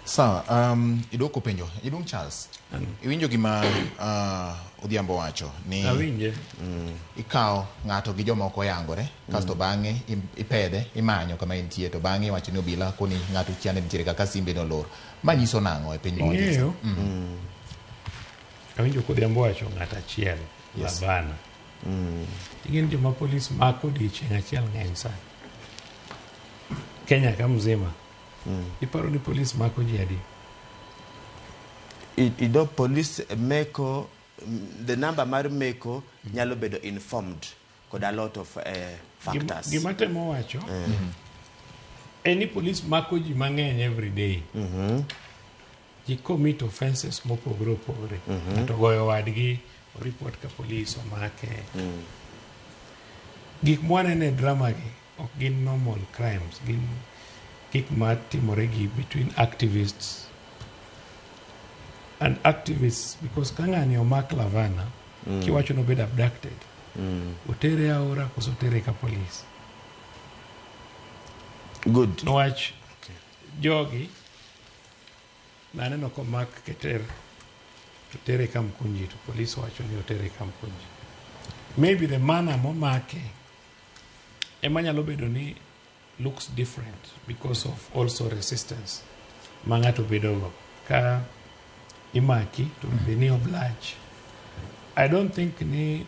Sawa, um, idwoko penjo. Iduong' Charles. Iwinjo gima uh, Odhiambo wacho ni Awinje. mm, ikawo ng'ato gi joma ok oyangore kasto bang'e im- ipedhe imanyo kama entie to bang'e iwacho ni obila koni ng'ato kia ni nitiere kaka simbe ni olor. Ma nyiso nang'o e piny mawachie? Ing'eyo? Mm. Awinjo kodhiambo wacho ng'at achiel Yes. labana. Ing'eni joma polis mako odiechieng' achiel ng'eny sana. Kenya ka mzima. Mm. Iparo ni polis mako ji adi? You know, polis meko, mm, the number mar meko mm. nyalo bedo informed kod a lot of uh, factors. Gima temo wacho, mm. any polis mako ji mang'eny every day. Mm -hmm. ji commit offenses mopogore opogore mhm. ng'ato mm -hmm. goyo wadgi oripot ka polis omake mm. gik mwaneno e drama gi ok gin normal crimes gin gik ma timore gi between activists and activists because ka ng'ani omak lavana mm. kiwacho nobedo abducted mm. otere aora koso otere ka polis good niwach okay. jogi Naneno komak keter to tere Kamkunji to police wacho ni otere Kamkunji. Maybe the manner momake ema nyalo bedo ni looks different because of also resistance ma ng'ato bedogo ka imaki to be ni oblige. I don't think ni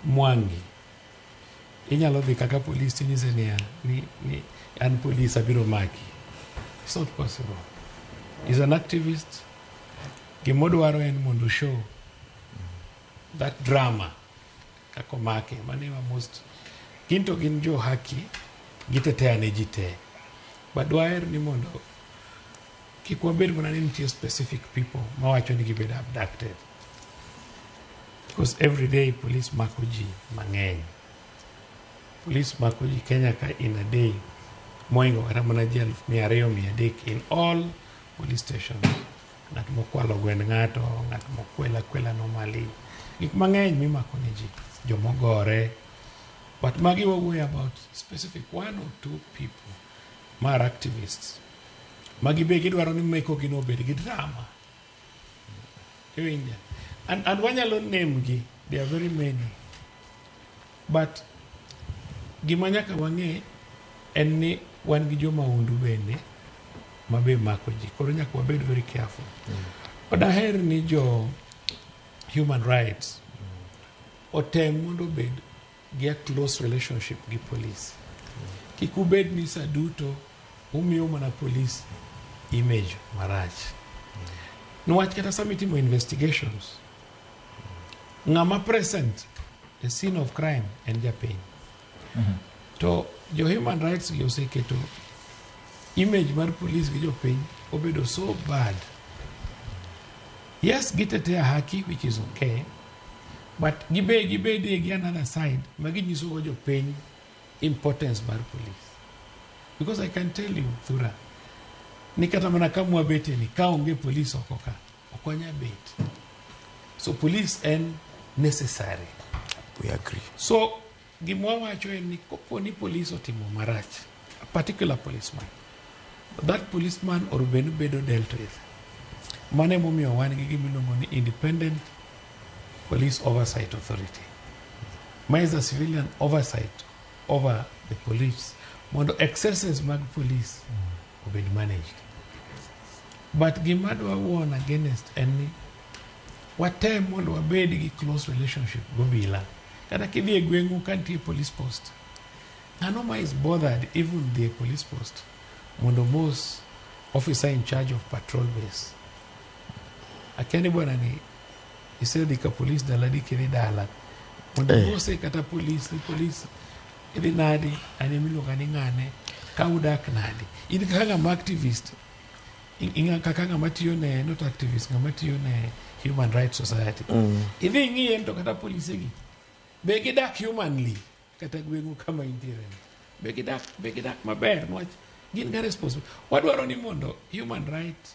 Mwangi Inyalo dhi kaka polis tinyise niya ni, ni an polis abiro maki. It's not possible. He's an activist. Gima odwaro en mondo oshow that drama kaka omake mano ema most gin to gin jo haki gitetea ne ji te but dwaher ni mondo kik wabed mana ni nitie specific people mawacho ni gibedo abducted Because every day police mako ji mang'eny. Police mako ji Kenya ka in a day moingo kata mana ji aluf mia ariyo mia adek in all police stations. Ng'at mokwalo gwend ng'ato, ng'at mokwela kwela normally. Gik mang'eny mimako ne ji, jomogore. But magi wawuoyo about specific one or two people ma are activists. Magi be gidwaro ni mekogino obed gi drama. Iwinja? And, and wanyalo name gi, there are very many. But gima nyaka wang'e en ni wan gi joma undu bende ma be mako ji. Koro nyaka wabed very careful. Mm. Daher ni jo human rights otem mondo obed Get close relationship gi police. Kik ubed ni saa duto umiyo mana police image marach. Niwach kata sama itimo investigations, ng'ama present e scene of crime en japiny. To jo human rights gi oseketo image mar police gi jopiny obedo so bad. Yes, gitetea haki which is okay. But gibe gibedie gi another side ma ginyisogo jopiny importance mar police. Because I can tell you, Thura, ni kata mana ka mwabete ni ka onge police oko ka, ok wanya bet. So police en necessary. We agree. So Gima wawacho en ni kopo ni polis otimo marach, a particular policeman, that policeman or bed ni bedo dealt with. Mano emomiyo wan gi gima iluongo ni Independent Police Oversight Authority. Ma is a civilian oversight over the police mondo excesses mag polis obed managed. But gima adwa warn against en ni watem mondo wabed gi close relationship gobila. Kata kidhi e gweng'u ka nitie police post, ng'ano ma is bothered even dhi e police post mondo mos officer in charge of patrol base. Akia ni bwana ni isedhi ka police daladi kiri dala mondo Eh. mose kata police ni police Idhi nadi? An ema iluonga ni ng'ane? Ka udak nadi? In kaka ng'ama activist, kaka ng'ama tiyo ne, not activist, ng'ama tiyo ne Human Rights Society. Mm. Idhi ing'iye to kata polise gi. Be gidak humanly? Kata gweng'u kama intiere. Be gidak, be gidak maber? Nwach, gin ga responsible. Wadwaro ni mondo human rights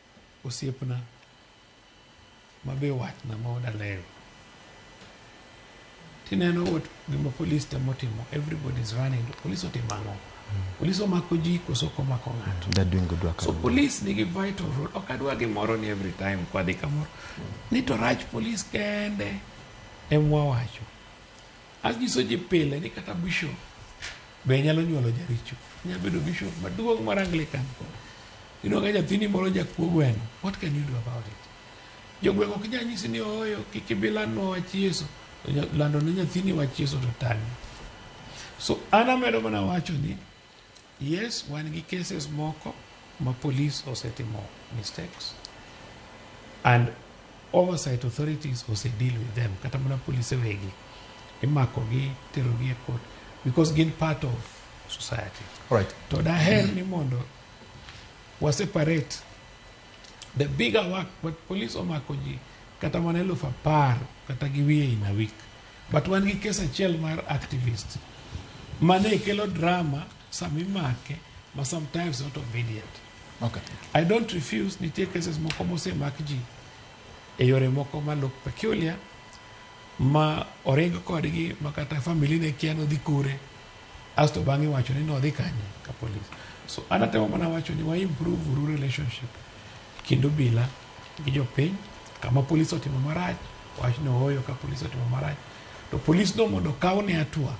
Osiepna ma be watna ma odaleyo. Tineno what gima polis temo timo. Everybody is running. To polis otimo ang'o? Polis omako ji koso ok omako ng'ato. They're doing good work. So polis nigi vital role. Ok adwa gimoro ni every time kwadhi kamoro. Ni to rach polis kende emwa wacho. Anyiso ji pile ni kata bishop be nyalo nyuolo jaricho. Nyalo bedo bishop maduong' mar Anglican. Iyudo ka nyathini moro jakuo gweno. What can you do about it? Jogweng' ok nyal nyisi ni ooyo kik ibi landnwa wach Yesu. To nya- Lando ne nyathini wach Yesu to tani. So an amedo mana wacho ni Yes wan gi cases moko ma police osetimo mistakes and oversight authorities ose deal with them kata mana polise wegi imakogi terogi e court because gin part of society All right. to daher ni mondo wa separate the bigger work but police omako ji kata mana eluf apar kata gi wiye in a week But wan gi kes achiel mar activist mane kelo drama sama imake ma sometimes not obedient. Okay. I don't refuse nitie cases moko mosemak ji e yore moko ma look peculiar ma oring kodgi ma kata family ne kia nodhi kure asto bang'e wacho ni nodhi kanye ka police. So anatemo mana wacho ni wa improve uru relationship kendo bila gi jopiny kama polis otimo marach wach ni ooyo ka polis otimo marach to polis no mondo okaw ne atua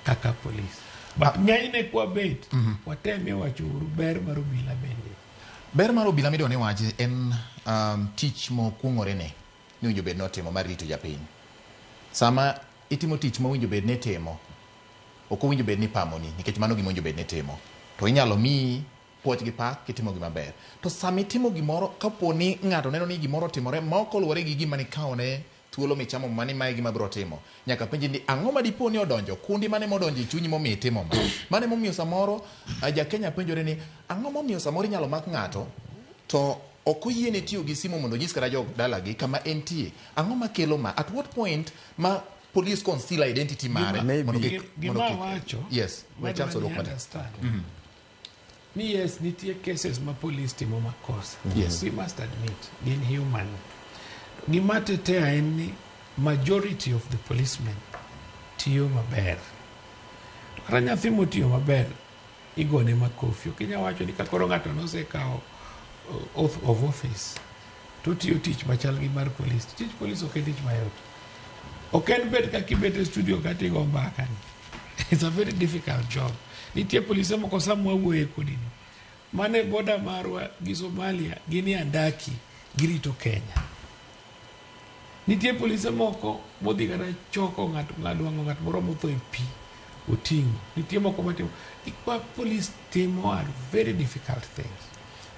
kaka polis but ng'enyne kwabet watemie wacho uru ber mar obila bende ber mar obila midwa ni wachi en um, tich mokuong'ore ne ni winjo bed notimo mar rito japiny sama itimo tich ma winjo bed nitimo ok owinjo bed ni pamoni nikech mano gima winjo bed nitimo to inyalo miyi puoch gi pak kitimo gima ber. To sama itimo gimoro kapo ni ng'ato neno ni gimoro otimore ma ok oluwore gi gima nikawone thuolo michamo muma ni ma e gima abiro timo, nyaka penji ni ang'o ma dipo ni odonjo kundi, mane modonjo e chunyi momiyo itimo ma. Mano emomiyo samoro ah, Jakenya penjore ni ang'o momiyo samoro inyalo mak ng'ato to ok oyiene tiyo gi simu mondo onyis kata jo dalagi kama entie. Ang'o makelo ma? At what point ma police conceal identity mare? Maybe. mondo kik- Gi- mondo gima kik- wacho, Yes, we Madam chance odwok Ni mata. understand. ni yes nitie cases ma police timo makosa yes. we must admit gin human gima tetea en ni majority of the policemen tiyo maber kata nyathi motiyo maber igone makofi okinya wacho ni kakoro ng'ato nosekawo uh, oath of office to otiyo tich machal gi mar polis. Tich polis ok en tich mayot. Ok en bet kaka ibet e studio ka tigo mbaka ni. It's a very difficult job. Nitie polise moko sama wawuoye kodi ni. Mane boda marwa gi Somalia gin e andaki girito Kenya. Nitie polise moko modhi kata choko ng'at ng'adwango ng'at moro motho e pi. oting'o. Nitie moko matimo ikwa polis timo are very difficult things.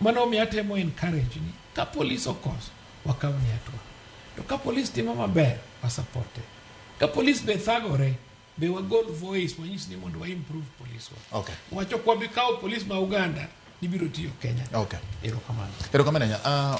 Mano omiyo atemo encourage ni ka polis okoso wakaw ni hatua. To ka polis timo maber wa support it. Ka polis be thagore be wagol voice wanyis ni mondo wa improve polis wa. Okay. Wacho kwa bi kawo polis ma Uganda nibiro tiyo Kenya. Okay. Erokamano. Erokamano. Uh,